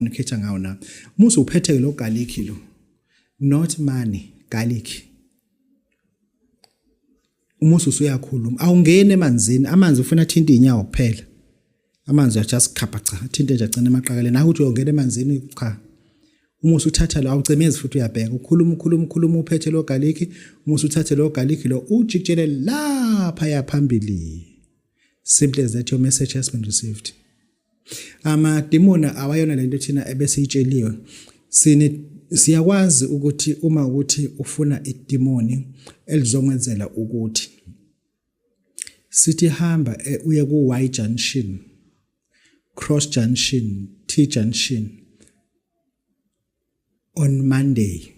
nikhetha ngawo na musi uphethe lo garlic lo not money garlic umusi usuyakhuluma awungeni emanzini amanzi ufuna athinta inyawo kuphela amanzi ya just khapha cha athinte nje agcina emaqakaleni hayi ukuthi uyongena emanzini cha umusi uthatha lo awucemezi futhi uyabheka ukhuluma ukhuluma ukhuluma uphethe lo garlic umusi uthathe lo garlic lo ujikjele lapha yaphambili simple as that your message has been received amadimoni awayona lento thina ebesiyitsheliwe sine siyakwazi ukuthi uma ukuthi ufuna idimoni elizonkwenzela ukuthi sithi hamba eh, uye ku Y junction cross junction T junction on Monday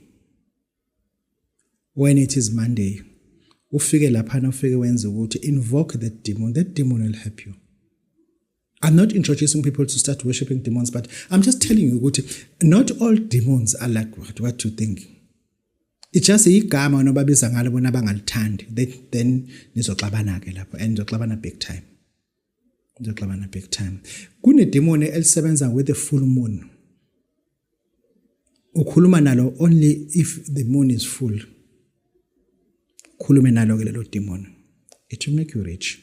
when it is monday ufike laphana ufike wenze ukuthi invoke that demon that demon will help you I'm not introducing people to start worshiping demons, but I'm just telling you, Guti, not all demons are like what, what you think. It's just igama onobabiza ngalo bona bangalithandi then nizoxabana ke lapho and nizoxabana big time nizoxabana big time kunedemoni elisebenza with the full moon ukhuluma nalo only if the moon is full khulume nalo ke lelo demon it will make you rich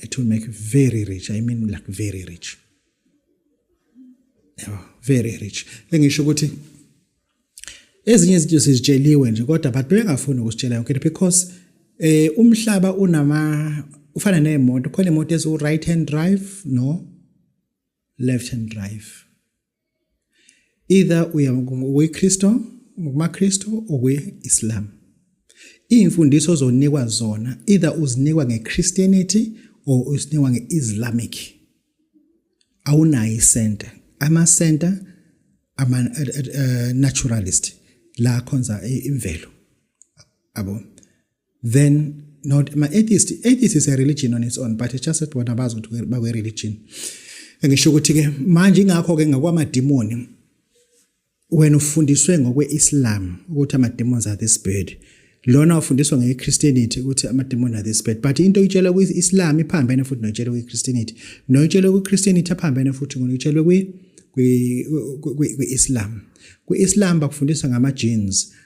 it will make you very rich i mean like very rich yabo very rich bengisho ukuthi ezinye izinto sizitsheliwe nje kodwa abantu bengafuni ukusitshela yonke into because eh umhlaba unama ufana nemoto khona imoto eziwu right hand drive no left hand drive either uya kuyiKristu ngokumaKristu okuyi-Islam iy'mfundiso ozonikwa zona either uzinikwa nge-Christianity or uzinikwa nge-Islamic awunayo isenta amasenta ama-naturalist eh, eh, eh, la khonza imvelo abo then not my atheist atheist is a religion on its own but it's just that bona bazi ukuthi bakwe religion ngisho ukuthi ke manje ingakho ke ngakwamadimoni wena ufundiswe ngokweIslam ukuthi ama demons are this bird lona ufundiswa ngeChristianity ukuthi ama demons are this bird but into oyitshela kwiIslam iphambene futhi noyitshela kwiChristianity noyitshela kwiChristianity aphambene futhi ngoyitshela kwi kwi-Islam kwi-Islam bakufundisa ngama-genes